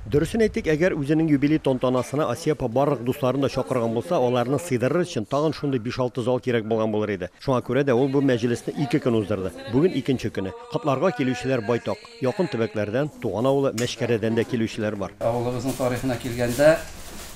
Дөресен әйтик, әгәр үзенең юбилей тантанасына Асия апа барлык дусларын да чакырган булса, аларны сыйдырыр өчен тагын шундый биш-алты зал кирәк булган булыр иде. Шуңа күрә дә ул бу мәҗлесне ике көн уздырды. Бүген икенче көне. Котларга килүчеләр байтак. Якын төбәкләрдән, туган авылы Мәчкәрәдән дә килүчеләр бар. Авылыбызның тарихына килгәндә,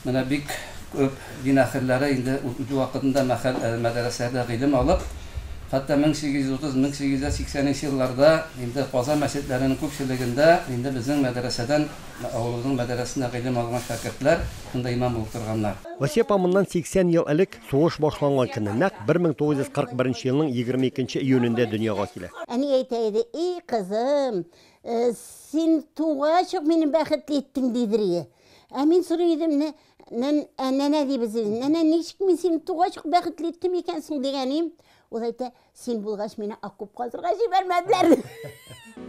Менә бик күп дин әһелләре инде үз вакытында мәхәл мәдәрәсәдә гыйлем алып, хәтта 1830, 1880 нче елларда инде Казан мәчетләренең күпчелегендә инде безнең мәдәрәсәдән, авылыбызның мәдәрәсенә гыйлем алган шәкертләр шунда имам булып торганнар. Вәсия апа моннан 80 ел элек, сугыш башланган көнне, нәкъ 1941 нче елның 22 нче июнендә дөньяга килә. Әни әйтә иде, И, кызым, син тугач ук мине бәхетле иттең, дидер иде. Ә мин сорый идем, нә, нә, ә нәнә дибез иде. Нәнә, ничек мин сине тугач ук бәхетле иттем икәнсең дигәнем. Ул әйтә, син булгач мине окоп казырга җибәрмәделәр.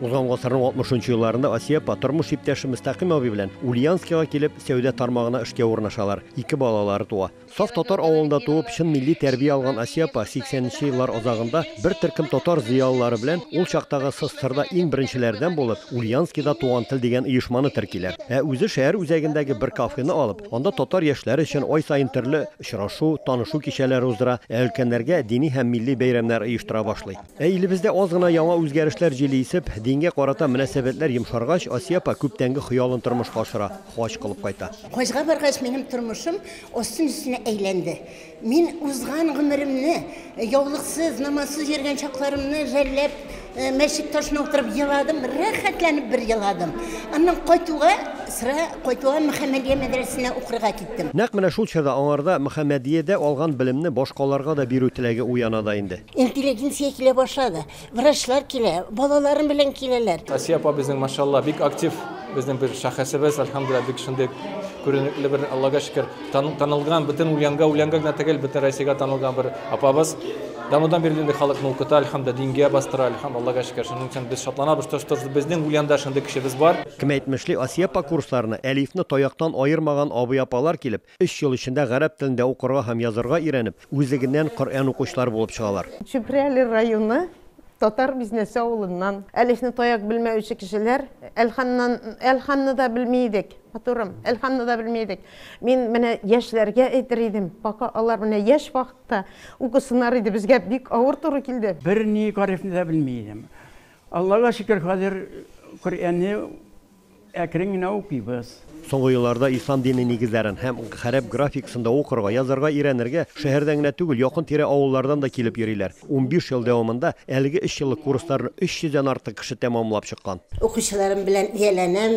Узган гасырның 60 нчы елларында Асия апа тормыш иптәше Мөстәкыйм абый белән Ульяновскига килеп, сәүдә тармагына эшкә урнашалар. Ике балалары туа. Саф татар авылында туып, чын милли тәрбия алган Асия апа 80 нче еллар азагында бер төркем татар зыялылары белән ул чактагы СССРда иң беренчеләрдән булып Ульянскида Туган тел дигән оешманы теркиләр. Ә үзе шәһәр үзәгендәге бер кафены алып, анда татар яшьләре өчен ай саен төрле очрашу, танышу кичәләре уздыра, ә өлкәннәргә дини һәм милли бәйрәмнәр оештыра башлый. Ә илебездә аз гына яңа үзгәрешләр җиле исеп, дингә карата мөнәсәбәтләр йомшаргач, Асия апа күптәнге хыялын тормышка ашыра, хаҗ кылып кайта. Хаҗга баргач, минем тормышым Остын-өстенә әйләнде. Мин узган гомеремне, яулыксыз, намазсыз йөргән чакларымны жәлләп, э, мәчет ташына утырып еладым, рәхәтләнеп бер еладым. Аннан кайтуга, сра, кайтуга Мөхәммәдия мәдрәсәсенә укырга киттем. Нәкъ менә шул чорда аңарда Мөхәммәдиядә алган белемне башкаларга да бирү теләге уяна да инде. Интеллигенция килә башлады. Врачлар килә, балаларым белән киләләр. Асия апа безнең машалла бик актив безнең бер шәхесебез, альхамдулилла, бик шундый күренекле бер, Аллага шөкер, танылган, бөтен Ульянга, Ульянга гына түгел, бөтен Россиягә танылган бер апабыз. Данудан бирле инде халык нолкыта, альхамда дингә бастыра, альхам Аллага шөкер. Шуның өчен без шатланабыз, тож тож безнең Ульянда шундый кешебез бар. Кем әйтмешли, Асия апа курсларына Әлифне таяктан аермаган абый-апалар килеп, Өч ел эчендә гарәп телендә укырга һәм язарга өйрәнеп, үзлегеннән Коръән укучылар булып чыгалар. Чүпрәле районы Татар Бизнәсе авылыннан. Әлифне таяк белмәүче кешеләр, әлханнан, әлханны да белми идек, матурым, әлханны да белми идек. Мин менә яшьләргә әйтер идем, пока алар менә яшь вакытта укысыннар иде, безгә бик авыр туры килде. Берни гарифне дә белми идем. Аллага шөкер, хәзер Коръәнне Әкрен генә укыйбыз. Соңгы елларда ислам дине нигезләрен һәм гарәп графикасын да укырга, язарга өйрәнергә шәһәрдән генә түгел, якын-тирә авыллардан да килеп йөриләр. Унбиш ел дәвамында әлеге өч еллык курсларны өч йөздән артык кеше тәмамлап чыккан. Укучыларым белән ияләнәм,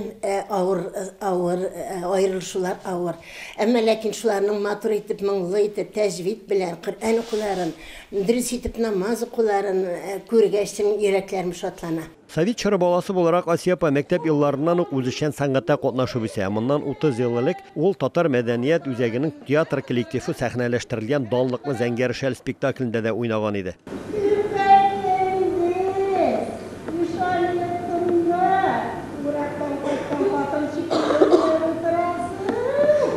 авыр, авыр, аерылышулар авыр. Әмма ләкин шуларның матур итеп, моңлы итеп, тәҗвид белән Коръән укуларын, дөрес итеп намаз укуларын күргәч, чын йөрәкләрем шатлана. Совет чоры баласы буларак, Асия апа мәктәп елларыннан ук үзешчән сәнгатьтә катнашып үсә. Ә моннан 30 ел элек ул Татар мәдәният үзәгенең театр коллективы сәхнәләштерелгән данлыклы Зәңгәр шәл спектаклендә дә уйнаган иде. Сирпәләйдең үч айлыкыңда, урактан кайткан хатын шикелле булып утырасың.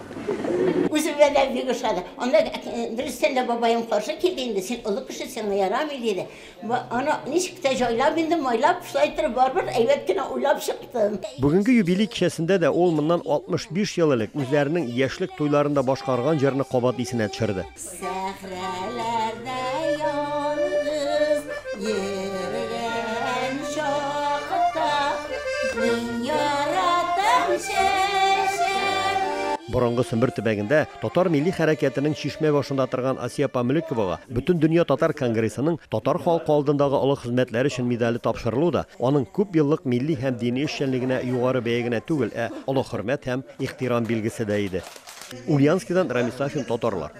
Үземә дә бик ошады. Анда э, дөрестән дә бабаем каршы килде инде, син олы кеше, сиңа ярамый диде. Аны ничек тә җайлап инде, майлап, шулай итеп барыбер әйбәт кенә уйлап чыктым. Бүгенге юбилей кичәсендә дә ул моннан 65 ел элек үзләренең яшьлек туйларында башкарган җырны кабат исенә төшерде. Сәхрәләрдә ялгыз йөргән чакта Мин яратам чәчәк Борынгы Сембер төбәгендә татар милли хәрәкәтенең чишмә башында торган Асия апа Мөлековага Бөтендөнья татар конгрессының татар халкы алдындагы олы хезмәтләре өчен медале тапшырылу да аның күп еллык милли һәм дини эшчәнлегенә югары бәя генә түгел, ә олы хөрмәт һәм ихтирам билгесе дә иде. Ульяновскидан Рамис Сафин, Татарлар.